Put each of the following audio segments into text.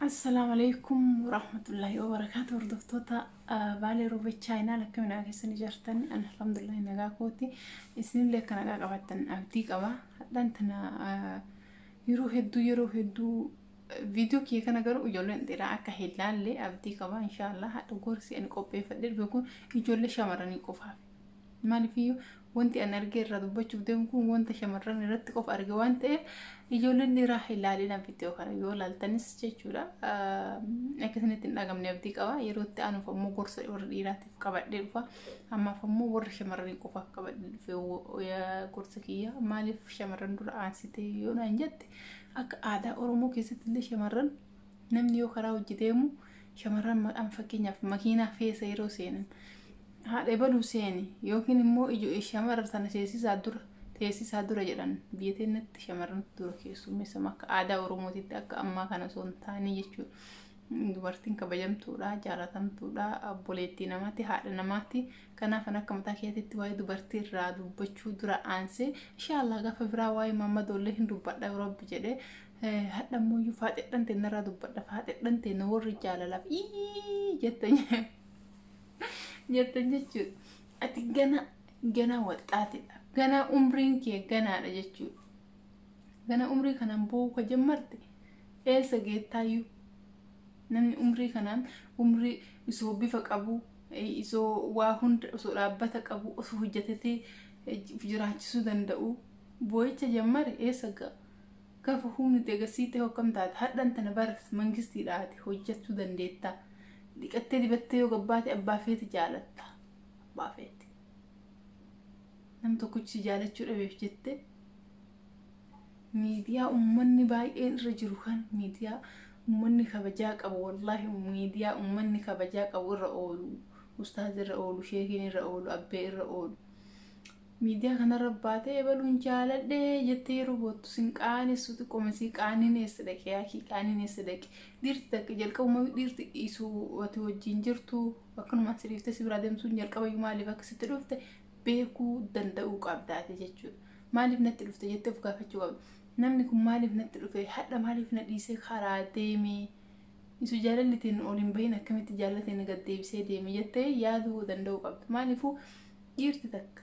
Assalaamu alaikum warahmatullaahi wabarakaatu hordoftoota baalee roobee chaayinaal akkamiin nagaa keessan ijaartan alhamdulillahi nagaa kooti isinillee akka nagaa qabaattan abdii qaba hadhaan tana yeroo hedduu yeroo hedduu viidiyoo kiyya kana garuu ijoolleen dhiiraa akka hin laalle abdii qaba inshaallah hadha gorsi ani qopheeffadhe dhufe kun ijoollee shamarranii qofaaf Maaliifiyyuu wanti an argee irraa dubbachuuf deemu kun wanta shamarran irratti qofa arge waan ta'eef ijoolleen dhiiraa ilaalinaan viidiyoo kana yoo laaltanis jechuudha akkasinitti hin dhagamne abdii qaba yeroo itti aanuuf ammoo gorsa warra dhiiraatiif qabadhee dhufa ammaaf ammoo warra shamarranii qofaaf qabadhee dhufe gorsa kiyya maaliif shamarran dura aansitee yoo naan jette akka aadaa oromoo keessatti illee shamarran Namni yoo karaa hojii deemu shamarran maqaan fakkeenyaaf makiinaa keessa yeroo seenan haadha ebaluu seeni yookiin immoo ijo shamarra sana seesisaa dura teessisaa dura jedhan biyya teenyatti shamarran dura keessummeessam akka aadaa oromootitti akka ammaa kana osoo hin taane jechuudha. Dubartiin kabajamtuudha, jaalatamtuudha, obboleettii namaatti, haadha namaatti. Kanaaf an akka mataa keetiitti waa'ee dubartii irraa dubbachuu dura aansee inshaallah gaafa biraa waa'ee maammadoollee hin dubbadha yoo rabbi jedhee hadha ammoyyuu faaxedhan tee narraa dubbadha faaxedhan tee na warri jaalalaaf ii jettan jettan jechuudha. Ati gana gana waxxaatidha. Gana umriin kee ganaadha jechuudha. Gana umrii kanaan boo'uu ka jammarte eessa geettaayyuu namni umrii kanaan umrii isoo bifa qabu isoo waa hunda osoo dhaabbata qabu osoo hojjetatee jiraachisuu danda'u boo'icha jammare eessa ga'a. Gafa humni degasiite ho akkam taata hadhan tana bar mangisti dhaate hojjattu dandeetta dhiqattee dibattee yoo gabbaate abbaa feete jaalatta abbaa feete nam tokkichi si jaalachuu dhabeef jette miidiyaa ummanni baay'een irra jiru kan miidiyaa ummanni kabajaa qabu wallaahi miidiyaa ummanni kabajaa qabu irra oolu ustaaz irra oolu sheekiin irra oolu abbee irra oolu Miidiyaa kanarra baatee ebaluun jaaladhe jettee yeroo boottu sin qaanessu xiqqooma sii qaaniin eessa dhaqe yaakii qaaniin eessa dhaqe dhiirti takka jalqabuma dhiirti dhiisu ati wajjin jirtu akkanumaan si dhiiftee si biraa deemsuun jalqabayyuu maaliif akka sitti dhufte beekuu danda'uu qabda ati jechuudha. Maaliif natti dhufte jettee of gaafachuu qabda. Namni kun maaliif natti dhufe hadha maaliif na dhiisee karaa deeme isu jaalallitiin ol hin bahin akkamitti jaallatiin gad deebisee deeme jettee yaaduu danda'uu qabda. Maaliifuu Dhiirti takka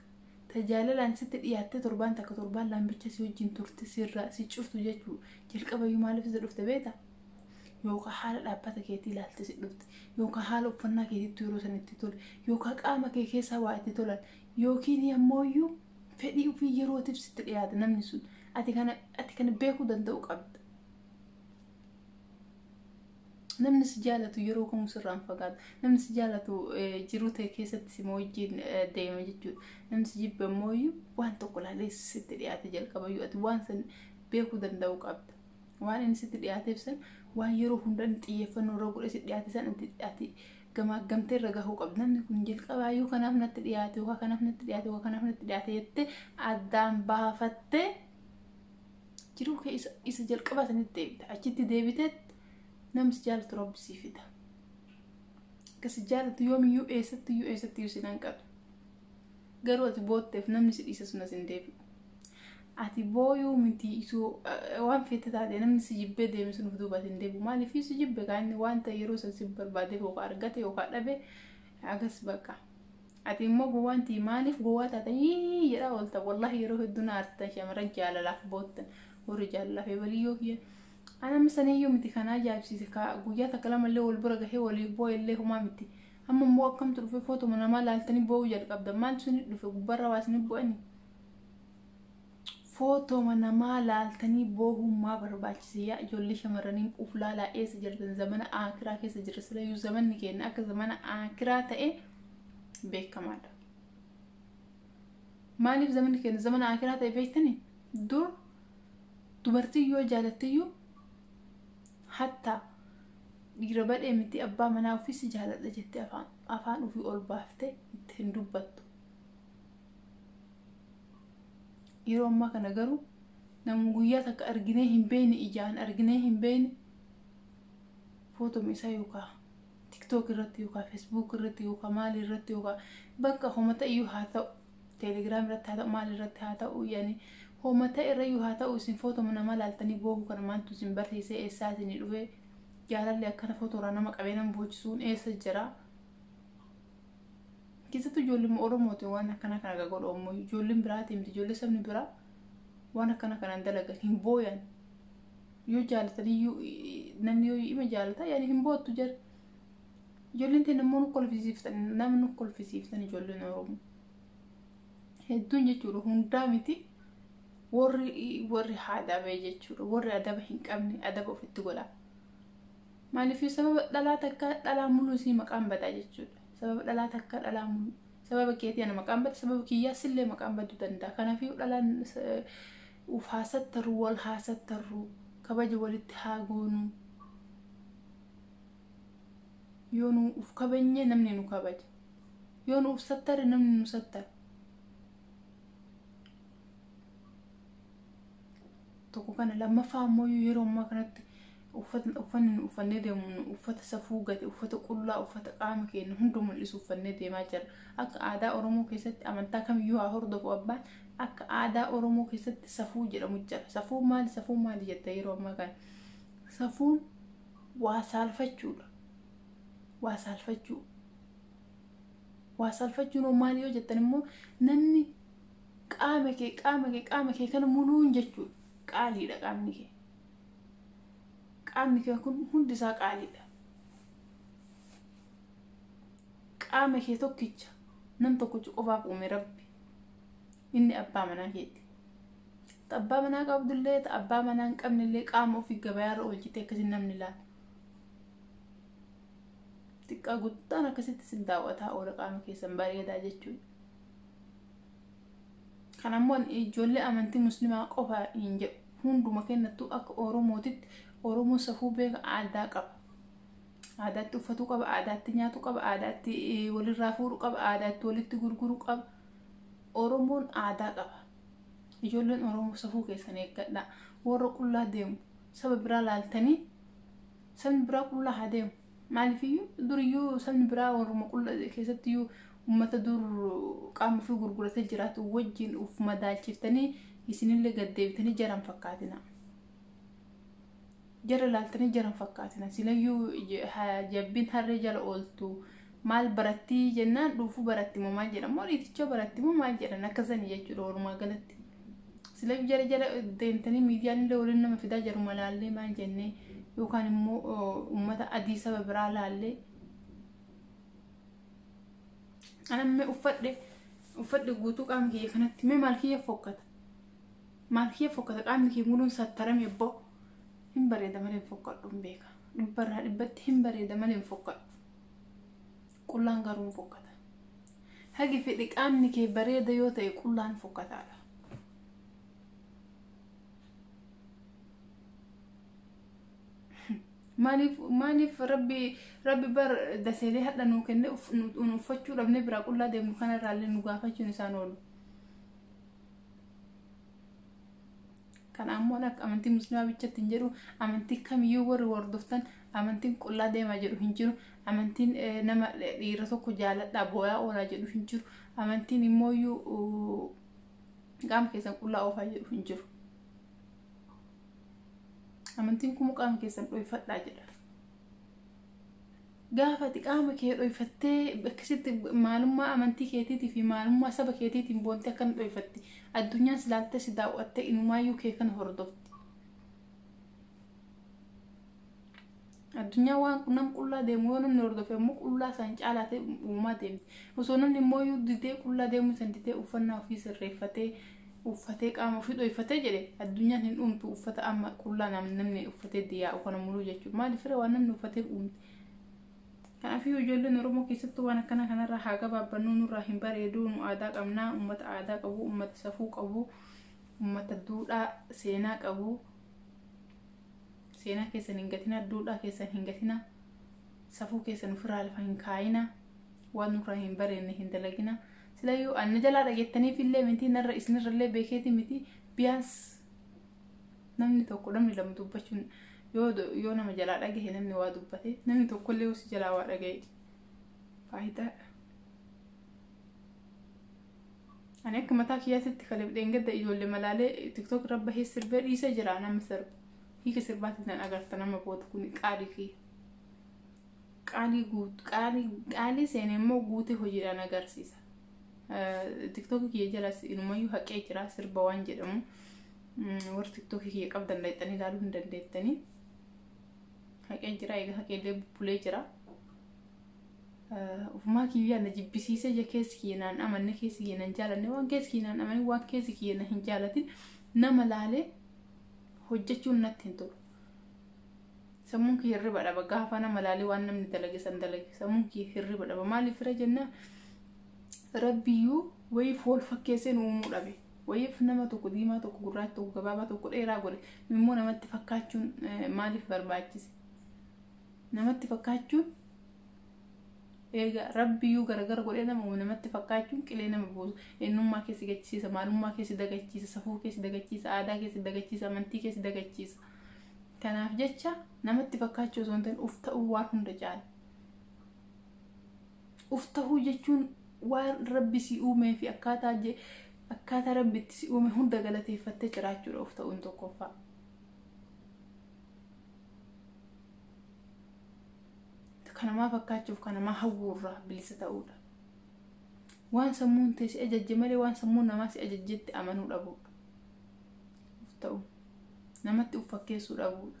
ta jaalalaan sitti dhiyaattee torbaan takka torbaan laan bicha si wajjin turte sirraa si cirtu jechuu jalqabayyuu maaliif isa dhufte beeta yookaan haala dhaabbata keetii ilaalte si dhufte yookaan haala uffannaa keetiitti yeroo san itti tole yookaan qaama kee keessaa waa itti tolan yookiin ammooyyuu fedhii ofii yerootiif sitti dhiyaate namni sun ati kana ati kana beekuu danda'u qabda. Namni si jaalatu yeroo kamuu sirraa hin fagaatu. Namni si jaalatu eh, jiruu ta'e keessatti sima wajjin eh, deema jechuudha. Namni si jibbe immoo iyyuu waan tokko ilaalee sitti dhiyaate jalqaba iyyuu ati waan san beekuu danda'uu qabda. Waan inni sitti dhiyaateef san waan yeroo hunda inni xiyyeeffannoo irra godhee sitti dhiyaate san ati, ati gamaaggamtee irra gahuu qabda. Namni kun jalqabaa yoo kanaaf natti dhiyaate, yookaan kanaaf natti dhiyaate, yookaan kanaaf natti dhiyaate jettee addaan baafattee jiruu kee isa, isa jalqabaa sanitti deebita achitti deebiteet nama si jaalatu rabbi sii fida akka si jaalatu yoomiyyuu eessattiyyuu eessattiyyuu sin hanqatu garuu ati bootteef namni si dhiise sun as hin deebi'u ati booyuu miti isoo eh, waan feete taate namni si jibbee deeme sun of duuba as hin deebi'u maaliif si jibbe kaa inni wanta yeroo san si barbaade yookaan argate yookaan dhabe agas bakka Ati immoo gowwaan tii maaliif gowwaa taatan yii jedhaa oolta wallahi yeroo hedduu na aarsitan shamarran jaalalaaf boottan warri jaalalaaf ebaliyyoo kiyya ana amma saniyyuu miti kan ajaa'ibsiise ka guyyaa takka lamallee wal bira gahee waliif boo'ellee homaa miti amma immoo akkamtu dhufe footuma namaa laaltanii boo'uu jalqabdan maaltu isin dhufe gubbarra waa isin bu'anii Footoma namaa laaltanii boohuun maa barbaachise yaa ijoollee shamarraniin uf laalaa eessa jirtan zamana aakiraa keessa jirra silayyuu zamanni keenya akka zamana aakiraa ta'e beekamaadha. Maaliif zamanni keenya zamana aakiraa ta'e beektanii dur dubartiin yoo jaalattiyyuu hatta dhiira badhee miti abbaa manaa ofii si jaaladha jettee afaan ofii ol baaftee itti hin dubbattu. yeroo ammaa kana garuu namu guyyaa takka arginee hin beekne ijaan arginee hin beekne footoma isaa yookaan tiktook irratti yookaan feesbuuk irratti yookaan maali irratti yookaan bakka homata iyyuu haa ta'u teelegiraam irratti haa ta'u maali irratti haa ta'u yaani homata irra iyyuu haa ta'u isin footoma nama laaltanii boohuu kana maaltu isin barsiisee eessaa isin dhufee jaalalli akkana footoraa nama qabee nama boochisuun eessa jira. keessattuu ijoolleen Oromooti waan akkana kana akka godhu ammoo ijoolleen biraatii miti ijoollee sabni biraa waan akkana kanaan dalagan hin booyan yoo jaalatan iyyuu namni yoo ima jaalata yaani hin boottu jira ijoolleen ta'e namoonni kolfisiiftan namni kolfisiiftan ijoolleen Oromoo hedduun jechuudha hundaa miti warri warri haadabee jechuudha warri adaba hin qabne adaba ofitti godha Maaliif sababa dhalaa takka dhalaa muluu isii maqaan badaa jechuudha. Sababa dhalaa takka dhalaa muluu. Sababa keetii ana maqaan bada sababa kiyyaa sillee maqaan baduu danda'a. Kanaafuu dhalaan uf haa sattarru wal haa sattarru kabaja walitti haa goonu. Yoo nu uf kabajne namni nu kabaja. Yoo nu uf sattare namni nu sattara. tokko kana lammaffaa ammoo yeroo ammaa kanatti uffata uffanni nu uffannee deemu nu uffata safuu gate uffata qullaa uffata qaama keenya hunda mul'isu uffannee deemaa jira akka aadaa oromoo keessatti amantaa kamiyyuu haa hordofu abbaan akka aadaa oromoo keessatti safuu jedhamu jira safuu maali safuu maali jetta yeroo ammaa kana safuun waa saalfachuudha waa saalfachuu waa saalfachuun hoo maali yoo jettan immoo namni Qaama kee qaama kee qaama kee kana muluun jechuudha. Qaaliidha qaamni kee. Qaamni kee kun hundi isaa qaaliidha. Qaama kee tokkicha nam tokkicha qofaaf uume rabbi. Inni abbaa manaa keeti. Ta abbaa manaa qabdullee ta abbaa manaa hin qabnellee qaama ofii gabayaarra oolchite akkasiin namni laata. Xiqqaa guddaan akkasitti sin daawwataa oola qaama keessan bareedaa jechuudha. Kan ammoo ijoollee amantii muslimaa qofa hin jedhu. Hunduma kennattuu akka Oromootitti Oromoo safuu beeka aadaa qaba. Aadaatti uffatuu qaba, aadaatti nyaatuu qaba, aadaatti walirraa fuudhuu qaba, aadaatti walitti gurguruu qaba. Oromoon aadaa qaba. Ijoolleen Oromoo safuu keessan eeggadhaa. Warra qullaa deemu saba biraa laaltanii Sabni biraa qullaa haa deemu. Maaliifiyyuu duriyyuu sabni biraa warruma qulla keessattiyyuu uummata dur qaama ofii gurguratee jiraatu wajjin uf madaalchiftanii isinillee gad deebitanii jara hin fakkaatina. Jara ilaaltanii jara hin fakkaatina. Silayyuu j- ha- jabbiin harree jala ooltu maal barattii jennaan dhuufuu baratti moo maal jedhan moo dhiiticha baratti moo maal jedhan akkasanii jechuudha walumaa galatti. Sila jara jala deemtanii miidiyaan illee waliin nama fidaa jaruma laallee maal jennee yookaan immoo uummata adii saba biraa laallee anamme uffadhe uffadhe guutuu qaama kiyya kanatti mee maal kiyya fokkata maal kiyya fokkata qaamni kiyya muluun sattarame abboo hin bareeda malee hin fokkadhu hin beeka dhibbarraa dhibbatti hin bareeda malee hin fokkadhu Qullaan garuu hin fokkata. Hagi fedhe qaamni kee bareeda yoo ta'e qullaan fokkataadha. Maaliif maaliif rabbi rabbi bar daseelee hadha nuu kenne uff- nu nu uffachuu dhabne biraa qullaa deemnu kanarraallee nu gaafachuun isaan oolu. Kana ammoo akka amantii muslimaa bichatti hin jedhu amantii kamiyyuu warri hordoftan amantiin qullaa deemaa jedhu hin jiru amantiin eh, nama eh, dhiira tokko jaaladhaa booyaa oolaa jedhu hin jiru amantiin immoo iyyuu uh, qaama keessan qullaa oofaa jedhu hin jiru amantiin kun qaama keessan dhoyfadhaa jedha gaafa ati qaama kee dhoyfattee akkasitti maalummaa amantii keetiitii fi maalummaa saba keetiitiin boontee akkana dhoyfatti addunyaan si laaltee si daawwattee inumaayyuu kee kana hordofti. Addunyaa waan nam qullaa deemu yoo namni hordofe immoo qullaa isaan caalaa ta'e uumaa deemti. Osoo namni immoo yoo didee qullaa deemuu san didee uffannaa ofii sirreeffatee uffatee qaama ofii dhoyfatee jedhe addunyaan hin uumtu uffata amma qullaa nam- namni uffatee diyaa'u kana muluu jechuudha maaliif fira waan namni uffatee uumte kanaafii ijoolleen oromoo keessattuu waan akkana kanarraa haa gabaabbannu nurraa hin bareeduu nu aadaa qabnaa ummata aadaa qabu ummata safuu qabu ummata duudhaa seenaa qabu seenaa keessan hin gatina duudhaa keessan hin gatina safuu keessan ofirraa lafa hin kaayina waan nurraa hin bareenne hin dalagina silayyuu anna jalaa dhageettaniif illee miti narra isinirra illee beekeeti miti biyaans namni tokko namni lama dubbachuun yoo yoo nama jalaa dhagahe namni waa dubbate namni tokko illee hosi jalaa waa dhagahe faayidaa ani akka mataa kiyyaatitti kaleef dheengadda ijoollee malaalee tiktok irra bahee sirbee dhiisee jira nama sirba hiika sirbaatiin nan agarta nama booda kun qaalii kiyya qaalii guut qaalii qaalii seene immoo guute hojiidhaan agarsiisa. Tiktookii kiyya jalas inumayyuu haqee jira sirba waan jedhamu warri tiktookii kiyya qabdan laixxanii ilaaluu hin dandeettanii. Haqee jira egaa haqeellee bubbulee jira. Ufumaa kiyyaa na jibbisiisee je keessi kiyya naan amanne keessi kiyya nan jaalanne waan keessi kiyya naan amanne waan keessi kiyya na hin jaalatin nama laalee hojjechuun natti hin tolu. Sammuun kiyya hirriba dhaba. Gaafa nama laalee waan namni dalage san dalage. Sammuun kiyya hirriba dhaba. Maaliif fira jennaan rabbiyyuu wayiif wal fakkeessee nu uumuu dhabe. Wayiif nama tokko diimaa tokko gurraacha tokko gabaabaa tokko dheeraa godhe. Immoo namatti fakkaachuun eh, maaliif barbaachise? Namatti fakkaachuun eega rabbiyyuu garagara godhee nama uume namatti fakkaachuun qilee nama buusa. Eenyummaa keessi gachiisa, maalummaa keessi dagachiisa, safuu keessi dagachiisa, aadaa keessi dagachiisa, amantii keessi dagachiisa. Kanaaf jecha namatti fakkaachuu osoo hin ta'in uf ta'uu waan hunda caala. Uf ta'uu jechuun waan rabbi si uumee fi akkaataa je- akkaataa rabbi itti si uume hunda galateeffattee jiraachuudha uf ta'uun tokkoffaa. Kanamaa fakkaachuuf kanamaa hawwuurraa bilisa ta'uudha. Waan sammuun tee si ajajje malee waan sammuun namaa si ajajjetti amanuu dhabuudha. of ta'u namatti of fakkeessuu dhabuudha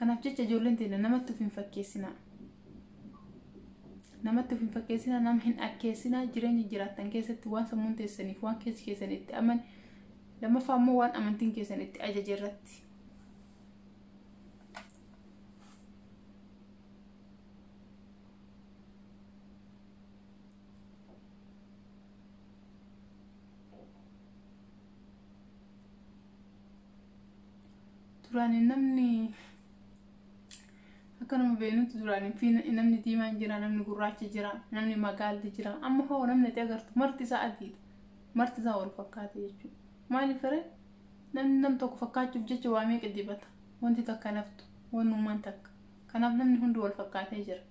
kanaaf jecha ijoolleen teenya namatti of hin fakkeessinaa namatti of hin fakkeessinaa nama hin akkeessinaa jireenya jiraattan keessatti waan sammuun teessaniif waan keessi keessan itti aman lammaffaa immoo waan amantiin keessan itti ajaje irratti Duraan namni akka nama beenutti duraan fi namni diimaan jira namni gurraachi jira namni magaalli jira amma hoo namni itti agartu marti isaa adiidha marti isaa wal fakkaata jechuudha maaliif fire namni nam tokko fakkaachuuf jecha waa meeqa dibata wanti takka naftu waan uumaan takka kanaaf namni hundi wal fakkaatee jira.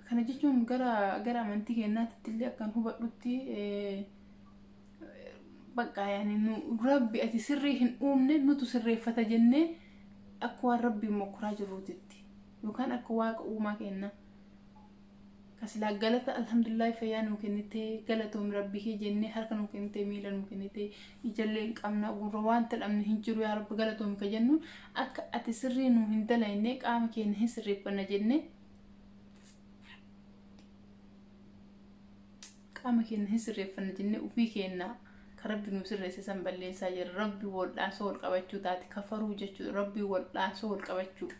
Kana jechuun gara gara amantii keenyaatti illee akkan hubadhutti bakka yaani nu rabbi ati sirrii hin uumne nutu sirreeffata jennee akka waan rabbiin mokkoraa jirruutitti yookaan akka waaqa uumaa keenna kasilaa galata alhamdulillahi fayyaa nuu kennite galatoomi rabbi kee jennee harka nuu kennite miila nuu kennite ijallee hin qabna gurra wanta dhabne hin jiru yaa rabbi galatoomi ka jennuun akka ati sirrii nuu hin dalayne qaama keenya hin sirreeffanna jennee qaama keenya hin sirreeffanne jennee ofii keenya kan rabbi nu sirreesse san balleessaa jira rabbi waldhaansoo wal qabachuu taate kafaruu jechuudha rabbi waldhaansoo wal qabachuu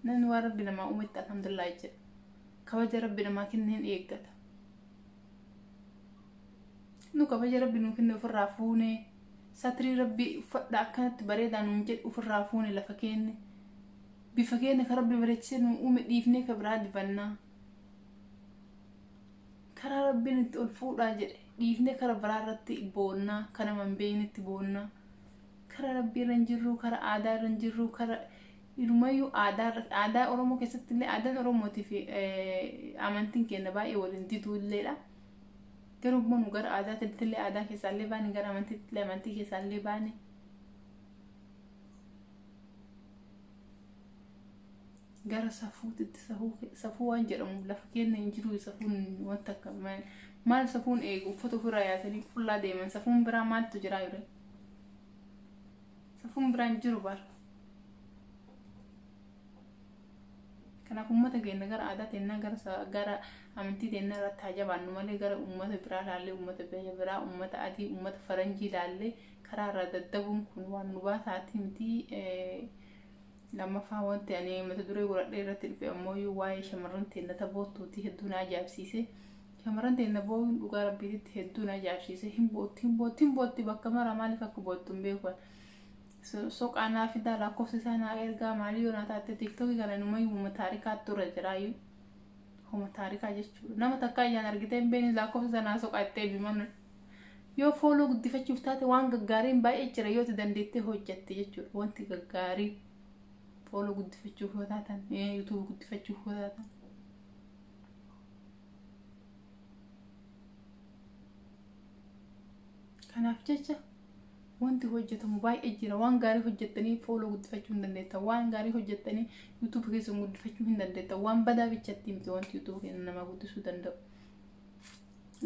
namni waan rabbi namaa uumetti alhamdulillah jedha kabaja rabbi namaa kenne hin eeggata nu kabaja rabbi nu kenne ofirraa fuune satrii rabbi uffadha akkanatti bareedaa nuun jedhe ofirraa fuune lafa keenne bifa keenya ka rabbi bareechise nu uume dhiifnee ka biraa dibannaa karaa rabbiin itti ol fuudhaa jedhe dhiifnee kara biraa irratti boonnaa ka nama hin beeknetti boonnaa kara rabbii irra hin jirru kara aadaa irra hin jirru kara Inumayyuu aadaa irratti aadaa Oromoo keessatti illee aadaan Oromootii fi amantiin keenya baay'ee waliin diduu illeedha. Garuu immoo nu gara aadaa titti illee aadaa keessaa illee baane gara amantiitti illee amantii keessaa illee baane. Gara safuutitti safuu safuu waan jedhamu lafa keenya hin jiru safuun wanta akka maal safuun eegu uffata ofirraa yaasanii qullaa deeman safuun biraa maaltu jiraa yure. Safuun biraan hin jiru bar. Kanaaf uummata keenya gara aadaa teennaa gara sa- gara amantii teennaa irratti haa jabaannu malee gara uummata biraa laallee uummata biyya biraa uummata adii uummata faranjii laallee karaa irraa daddabuun kun waan nu baasaatii miti. Eh, Lammaffaa wanti ani mata duree godhadhee irratti dhufe ammoo waa'ee shamarran teenna taboottuuti hedduu na ajaa'ibsiise. Shamarran teenna booyuun dhugaa rabbiititti hedduu na ajaa'ibsiise hin bootti hin bootti hin bootti bakka mara maaliif akka boottu hin beeku ani. So- Soqaa naa fidaa lakkoofsa isaa naa ergaa maalii yoo naa taatte tiiktokii kana numayyuu homa taarikaattu irra jiraayyuu. Homa taarikaa jechuudha. Nama takkaa ijaan argitee hin beekne lakkoofsa isaa naa soqaa itti eebiman. Yoo fooloo guddifachuuf taate waan gaggaariin baay'ee jira yoo itti dandeettee hojjatte jechuudha. Wanti gaggaarii fooloo guddifachuuf yoo taatan, yuutuubii guddifachuuf yoo taatan. kanaaf jecha wanti hojjetamu baay'ee jira waan gaarii hojjettanii fooloo guddifachuu hin dandeettan waan gaarii hojjettanii yuutuubi keessan guddifachuu hin dandeettan waan badaa bichatti miti wanti yuutuubi keessan namaa guddisuu danda'u.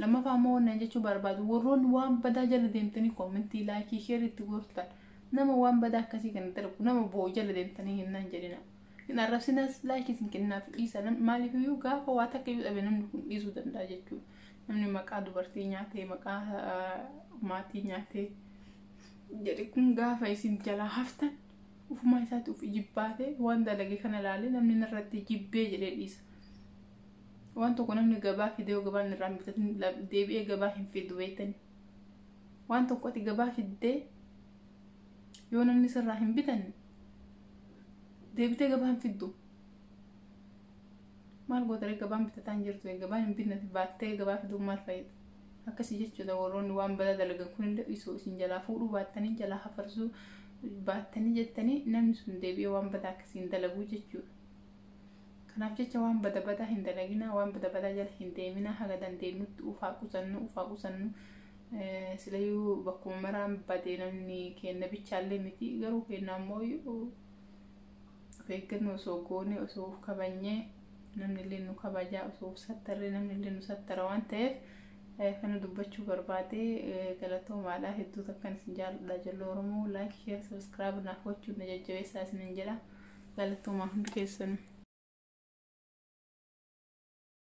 Lammaffaa immoo wannan jechuu barbaadu warroonni waan badaa jala deemtanii koomentii laayikii sheerii itti goortan nama waan badaa akkasii kana darbu nama boo'u jala deemtanii hin nan jedhina. Hin arrabsinaas laayikii isin kennaaf dhiisa namni maaliif iyyuu gaafa waa takka iyyuu dhabe namni kun dhiisuu danda'a jechuudha. Namni maqaa dubartii nyaatee maqaa maatii nyaatee jedhe kun gaafa isin jalaa haftan ufumaa isaatti uf ijibbaatee waan dalage kana ilaalee namni narratti jibbee jedhee dhiisa. Waan tokko namni gabaa fidee yoo gabaan irraa bitatin deebi'ee gabaa hin fidu beektani. Waan tokko ati gabaa fiddee yoo namni sirraa hin bitanne deebitee gabaan fiddu maal gootaree gabaan bitataa hin jirtu gabaan hin binnati baattee gabaa fiduun maal fayyada akkasii jechuudha warroonni waan badaa dalagan kunillee isoo isin jalaa fuudhuu baattanii jalaa hafarsuu baattanii jettanii namni sun deebi'ee waan badaa akkasiin dalaguu jechuudha. Kanaaf jecha waan bada badaa hin dalaginaa, waan bada badaa jala hin deeminaa, haga dandeenyutti uf haa qusannu, uf haa qusannu. Silayyuu bakkuma maraan badee namni keenna bichaallee miti garuu keenna ammoo of eeggannoo osoo goonee osoo uf kabanyee namni illee nu kabajaa osoo uf sattarree namni illee nu sattara waan ta'eef kana dubbachuu barbaade galatoomaadha hedduu takkan isin jaalladha ijoollee oromoo laayik sheer sabiskiraayib naaf gochuun na jajjabeessaa isinin jedha. Galatoomaa hundi keessanuu.